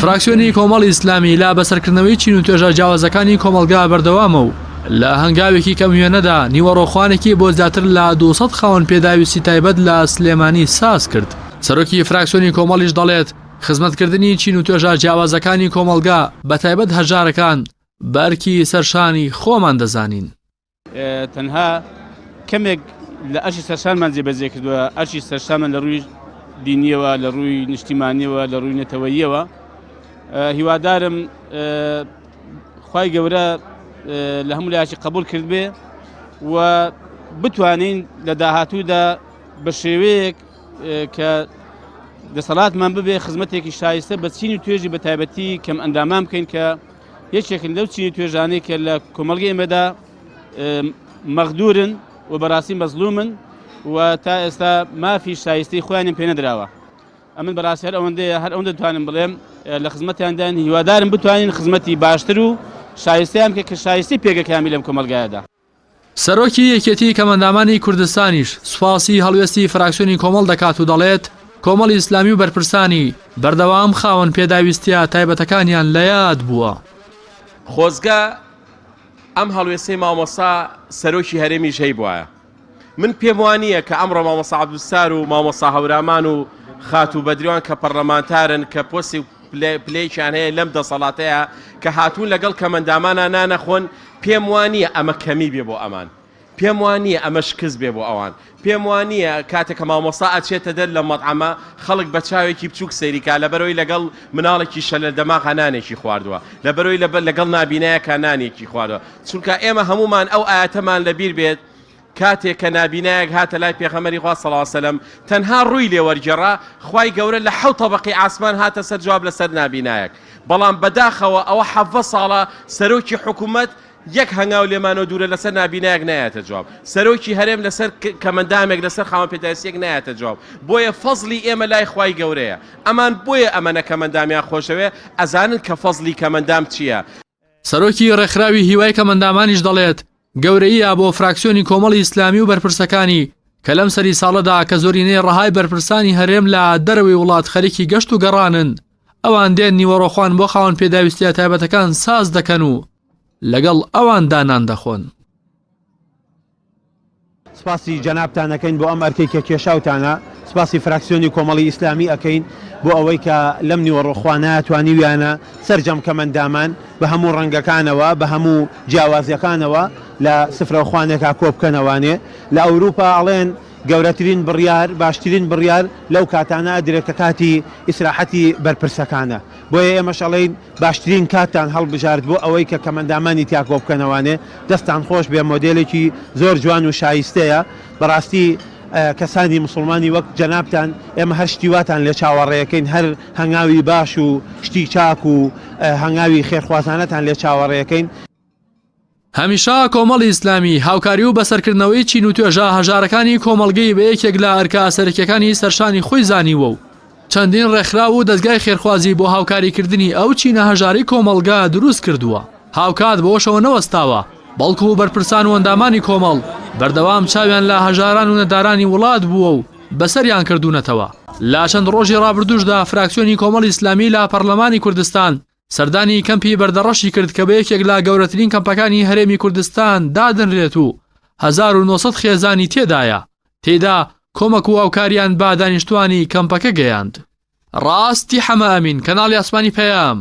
فراکسیۆنی کۆمەڵی ئیسلامی لا بەسەرکردنەوەی چین و توێژە جیاوازەکانی کۆمەڵگا بەردەوامە و لە هەنگاوێکی کەم وێنەدا نیوەڕۆخوانێکی بۆ زیاتر لە 200 خاوەن پێداویستی تایبەت لە سلێمانی ساز کرد سەرۆکی فراکسیۆنی کۆمەڵیش دەڵێت خزمەتکردنی چین و توێژە جیاوازەکانی کۆمەڵگا بە تایبەت هەژارەکان بە ئەرکی سەرشانی خۆمان دەزانین. تەنها کەمێک لە ئەرشی سەرشانمان جێبەجێ کردووە ئەرشی سەرشانمان لە ڕووی دینیەوە لە ڕووی نیشتیمانیەوە لە ڕووی نەتەوەییەوە هیوادارم خی گەورە لە هەموو لایکی قبول کرد بێ و بتوانین لە داهاتوودا بە شێوەیەک کە دەسەڵاتمان ببێ خزمەتێکی شایستە بە چینی توێژی بە تایبەتی کەم ئەندامان بکەین کە یەکێکن لەو چین و توێژانەی کە لە کۆمەڵگەی ئێمەدا مەغدورن و بەڕاستی مەزلومن و تا ئێستا مافی شایستەی خۆیانم پێ نەدراوە ئەمن بەڕاستی هەر ئەوەندەیە هەر ئەوەندە توانم بڵێم لە خزمەتیاندان هیوادارم بتوانین خزمەتی باشتر و شایستیان کە کە شایستی پێگەکانی لەم کۆمەلگایەدا سەرۆکی یەکێتی کەمەندامانی کوردستانیش سوپاسی هەڵوێستی فراکسیۆنی کۆمەڵ دەکات و دەڵێت، کۆمەڵی ئیسلامی و بەرپرسانی، بەردەوام خاوەن پێداویستییە تایبەتەکانیان لە یاد بووە. خۆزگە ئەم هەڵوێستەی مامۆستا سەرۆکی هەرێمیش هەیبوایە. من پێم وانییە کە ئەمڕۆ مامۆستا عەبدولستار و مامۆستا هەورامان و خاتوو بەدریوان کە پەڕلەمانتارن کە پۆستی و پلەیەکیان هەیە لەم دەسەڵاتەیە کە هاتوون لەگەڵ کەمەندامانا نانەخۆن، پێم وانییە ئەمە کەمی بێ بۆ ئەمان. پێم وانییە ئەمە شکست بێ بۆ ئەوان. پێم وانییە کاتێ کە مامۆستا ئەچێتە دەر لە مەتعەمە خەڵک بە چاوێکی بچووک سەیری کا لەبەرەوەی لەگەڵ مناڵێکی شەلە دەماغا نانێکی خواردووە، لەبەرەوەی لەگەڵ نابینایەکا نانێکی خواردووە. چونکە ئێمە هەموومان ئەو ئایەتەمان لەبیر بێت، کاتێک کە نابینایەک هاتە لای پێغەمبەری خوا صلی اللە سلم تەنها ڕووی لێ وەرگێڕا خوای گەورە لە حەوت تەبەقی ئاسمان هاتە سەر جواب لەسەر نابینایەک بەڵام بەداخەوە ئەوە حەڤە ساڵە سەرۆکی حکوومەت یەک هەنگاو لێمانەوە دوورە لەسەر نابینایەک نایەتە جواب سەرۆکی هەرێم لەسەر کەمەندامێک لەسەر خاوەن پێداویستیەک نایەتە جواب بۆیە فەزلی ئێمە لای خوای گەورەیە ئەمان بۆیە ئەمەە کەمەندامیان خۆشەوێ ئەزانن کە فەزلی کەمەندام چییە سەرۆکی ڕێکخراوی هیوای کەمەندامانیش دەڵێت، گەورەییە بۆ فراکسیۆنی کۆمەڵی ئیسلامی و بەرپرسەکانی کە لەم سەری ساڵەدا کە زۆرینەی ڕەهای بەرپرسانی هەرێم لە دەرەوەی وڵات خەریکی گەشت و گەڕانن، ئەوان دێن نیوەڕۆخوان بۆ خاوەن پێداویستییە تایبەتەکان ساز دەکەن و لەگەڵ ئەواندا نان دەخۆن. سپاسی جەنابتان ئەکەین بۆ ئەم ئەرکەی کە کێشاوتانە، سپاسی فراکسیۆنی کۆمەڵی ئیسلامی ئەکەین بۆ ئەوەی کە لەم نیوەڕۆ خوانایە توانیویانە سەرجەم کەمەندامان بە هەموو ڕەنگەکانەوە بە هەموو جیاوازیەکانەوە لە سفرەو خوانێکا کۆبکەنەوانێ لە ئەوروپا ئەڵێن گەورەترین بڕیار باشترین بڕیار لەو کاتانە ئەدرێ کە کاتی ئیسراحەتی بەرپرسەکانە بۆیە ئێمەش ئەڵێین باشترین کاتتان هەڵبژارد بۆ ئەوەی کە کەمەندامانی تیا کۆبکەنەوانێ دەستان خۆش بێ مۆدێلێکی زۆر جوان و شایستەیە بەڕاستی کەسانی مسوڵمانی وەک جەنابتان ئێمە هەر شتی واتان لێ چاوەڕێەکەین هەر هەنگاوی باش و شتی چاک و هەنگاوی خێرخوازانەتان لێ چاوەڕێەکەین هەمیشە کۆمەڵی ئیسلامی هاوکاری و بەسەرکردنەوەی چین و توێژە هەژارەکانی کۆمەڵگەی بە یەکێک لە ئەرکە سەرەکیەکانی سەرشانی خۆی زانیوە و چەندین ڕێکخرا و دەستگای خێرخوازی بۆ هاوکاریکردنی ئەو چینە هەژاری کۆمەڵگا دروست کردووە هاوکات بۆشەوە نەوەستاوە بەڵکو و بەرپرسان و ئەندامانی کۆمەڵ بەردەوام چاویان لە هەژاران و نەدارانی وڵات بووە و بەسەریان کردوونەتەوە لا چەند ڕۆژی ڕابردوشدا فراکسیۆنی کۆمەڵی ئیسلامی لە پەرلەمانی کوردستان سەردانی کەمپی بەردەڕەشی کرد کە بە یەکێک لە گەورەترین کەمپەکانی هەرێمی کوردستان دادەنرێت و هەزار و نۆ سەد خێزانی تێدایە، تێیدا کۆمەک و هاوکارییان بە دانیشتووانی کەمپەکە گەیاند. ڕاستی حەمە ئەمین، کەناڵی ئاسمانی پەیام،